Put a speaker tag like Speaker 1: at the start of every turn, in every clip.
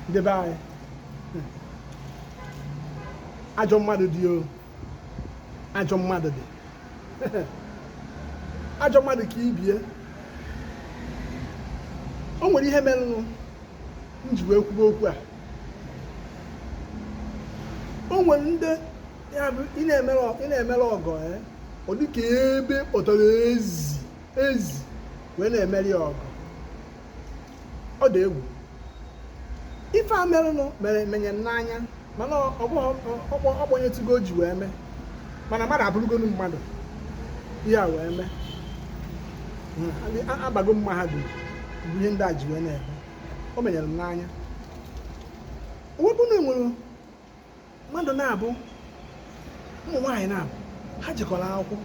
Speaker 1: ndị be anyị ajọ mmadụ dị o ajọ mmadụ dị ajọ mmadụ ka ibie o nwere ihe merenụ m ji wee kwube okwu a o nwere ndị ị na-emere ọgọ eh? ọ dịka ebe ị kpọtara ezi wee na-emere ya ọgọ ọ dị egwu ife a merenụ menye m n'anya mana ọgbanyetụgo o ji wee mee mana mmadụ abụrụgonu mmadụ ihe a wee mee abago m mahadum bụ ihe ndị a ji wee na-eme o menyere m n'anya wee bụ na e nwere mmadụ naabọ ụmụ nwaanyị naabọ ha jekọrọ akwụkwọ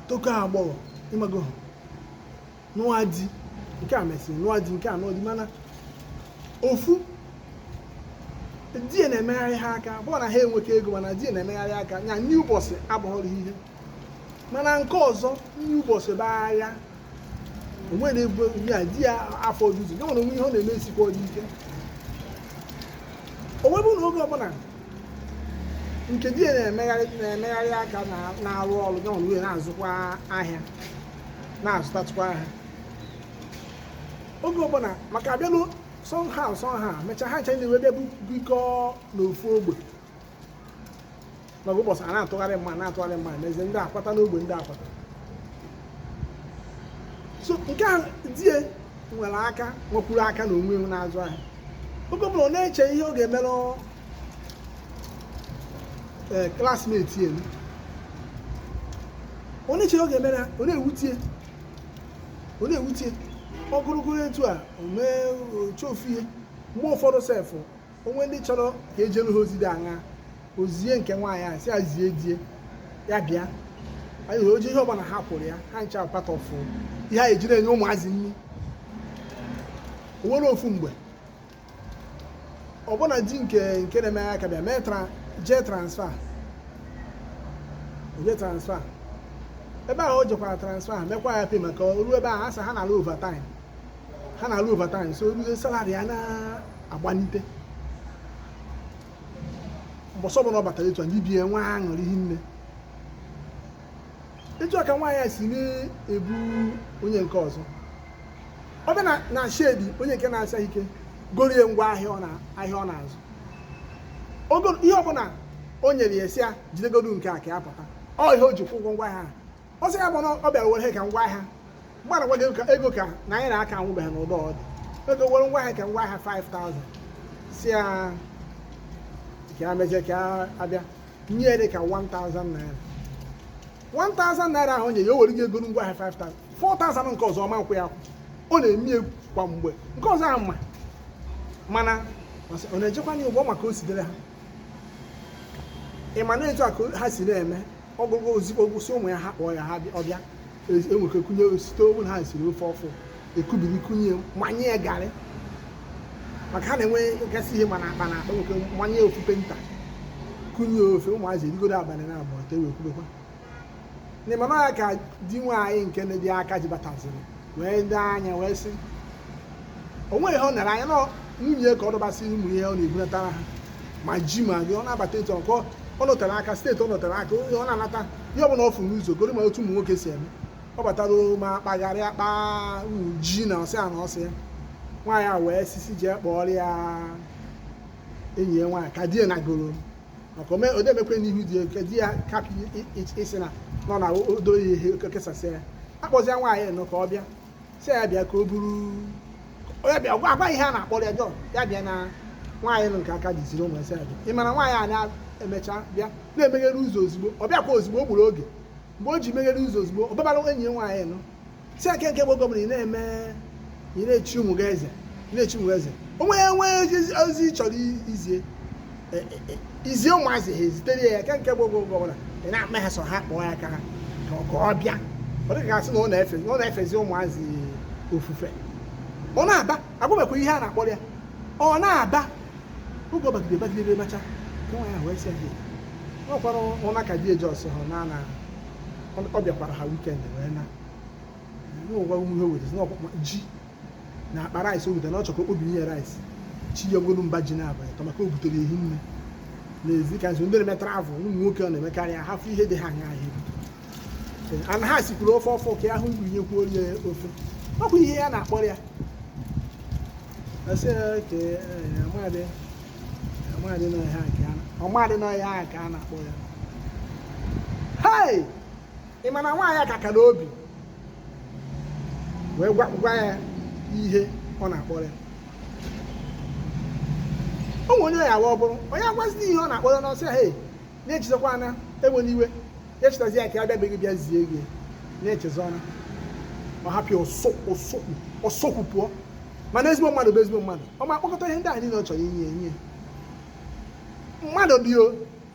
Speaker 1: tokọọ agbọghọ ịmago ha nụọ di nke a mesịrị nụọ di nke a nụọ di mana ofu di ya na-emegharị ha aka bụọ na ha enweka ego mana di ya na-emegharị aka ya nri ụbọchị abụghọrọ ihe mana nke ọzọ nri ụbọchị bụ agha o nwere ebe ya di ya afọ ojuju ya nwa n'onwe ya ihe ọ na-eme esikwadị ike o wee bụ na oge ọbụla nke di ya na-emegharị aka na-arụ ọrụ ya nwa n'onwe ya na-azụkwa ahịa na-azụtatụkwa ahịa oge ọbụla maka abịalu somehow somehow mechaa ha ncha wee bịa bikọọ n'ofu ogbe n'ọgụ ụbọchị a na-atụgharị mma n'ezie ndị akwata n'ogbe ndị akwata so nke a die nwere aka nwekwuru aka na onwe na-azụ ahịa oge ọbụla ọ na-eche ihe ọ ga-emere classmate ya ọ na-eche ihe ọ ga-emere ha ọ na-ewutie ọ na-ewutie ogologo etu a mee o chee ofu ihe mgbe ụfọdụ sef o nwee ndị chọrọ ka e jelu ha ozi dị aṅa o zie nke nwaanyị a sị ya zie die ya bịa anyị hụrụ oji ihe ọbụla ha kwụrụ ya ha ncha part of ihe ha jiri enye ụmụazị nri o nwere ofu mgbe ọbụna di nke na-eme aka bịa mee jee transfer ebe ahụ o jekwara transfer mekwa ya pay maka o ruo ebe ahụ a sị ha na-alụ overtime ha na-alụ overtime so o ruzie salary ya na-agbanite mbọsị ọbụla ọ batara etu a ndị be ya nwee aṅụrị hinne etu a ka nwaanyị a si na-ebu onye nke ọzọ ọ bịa na shed onye nke na-esighị ike gorie ngwa ahịa ọ na-azụ ihe ọbụla o nyere ya sị ya jidegodu nke a ka ya pụta ọ ihe o ji kwụ ụgwọ ngwa ahịa ahụ. ọ sị ya mana ọ bịara were ka ngwa ahịa mgbana gwa gị ego ka na anyị na-aka anwụbeghị n'ụdọ ọ dị ego were ngwa ahịa ka ngwa ahịa 5000 sị ya ka ya mezie ka ya abịa nye ya dị ka 1000 naira 1000 naira ahụ nye ya o were gị ego ngwa ahịa 5000 4000 nke ọzọ ọ ma-akwụ ya akwụ ọ na-eme egwu kwa mgbe nke ọzọ ahụ ma mana ọ na-ejikwa ya ụgwọ maka o sidere ha ị ma na etu a ka ha si na-eme ọ gwụgwọ ozigbo gwụsị ụmụ ya ha kpọọ ya ha bịa- ọ bịa E- enwere kunye site owu na ha siri ofe ọfụ ekubiri kunye manye ya garị maka ha na-enwegasị ihe n'akpa n'akpa nwoke manye ofu penta kunye ofe ụmụazị erigodo abalị na abụọ te wee kwubekwa na ị ma na ya ka di nwaanyị nke na-adị aka ji bataziri wee lee anya wee sị o nweghị ihe ọ nara anya na nwunye ka ọ dọbasị ụmụ ihe ọ na-ebunatara ha ma ji ma gị ọ na-abata etu ọkọ ọ nọtara aka steeti ọ nọtara aka onye ọ na-anata ihe ọbụla ọ fụ n'ụzọ goro ị ma otu ụmụ nwoke si eme ọ batara ma kpagharịa akpa ji na ọsị a na ọsị ya nwaanyị a wee sisi jee kpọọrọ ya enyi ya nwaanyị ka di ya nagoro maka ome odemekwe n'ihu di ya nke di ya kapị isi na nọ na odo ya ihe kesasị ya akpọzie nwaanyị nụ ka ọ bịa sị ya bịa ka o buru onye bịa gwa agwa ihe a na-akpọrọ ya jọn ya bịa na nwaanyị nụ nke aka dị ziri ụmụ ya sị ya bịa ị mara nwaanyị a na-emecha bịa na-emeghere ụzọ ozugbo ọ bịakwa ozugbo o gburu oge mgbe o ji meghere ụzọ ozugbo ọ babara enyi ya nwaanyị nụ sị ya kee nke bụ gọvanọ ị na-eme ị na-echi ụmụ gị eze ị na-echi ụmụ gị eze o nwee ị nwee ozi ị chọrọ izie izie ụmụazị ha ezitere ya kee nke bụ oge oge ọbụla ị na-akpọ ha sị ha kpọọ ya ka ha ka ọ- ka ọ bịa ọ dịka a sị na ọ na-efe na ọ na-efezi ụmụazị ofufe ọ na-aba agwabekwa ihe a na-akpọrọ ya ọ na-aba oge ọ bagide bagide ebe mecha ka nwa ya wee sị ya "Hey, ọ kwara ụna ka di eji ọsọ ha na na ọ bịakwara ha wikend wee na n'ụwa ihe wetezi n'ọkpụkpa ji na akpa rice o butere na ọ chọrọ ka o kpobinye rice chinyegodu mba ji naabọ ịtọ maka o butere hinne n'ezie ka nso ndị na-eme travel ụmụ nwoke ọ na-emekarị ya ha fụ ihe dị ha anya ahịa ebute na ha sikwuru ofe ọfụ ka ha kubinyekwuo ya ofe ọ kwa ihe a na-akpọrọ ya asị ya ke amadị amadị nọ ihe a ka a- ọmadị nọ ihe a ka a na-akpọ ya hei ị ma na nwaanyị a ka kara obi wee gwa ya ihe ọ na-akpọrọ ya o nwere onye ya awa ọ bụrụ onye agwazi ihe ọ na-akpọrọ ọ sị ya hey na ya echezọkwaana ewena iwe ya chetazi ya ka ya bịa be gị bịa zie gị na ya echezọọna ọ hapụ ya ọ sụọ ụkwụ pụọ mana ezigbo mmadụ bụ ezigbo mmadụ ọ ma akpọkọta ihe ndị a niile ọ chọrọ inye enye mmadụ dị o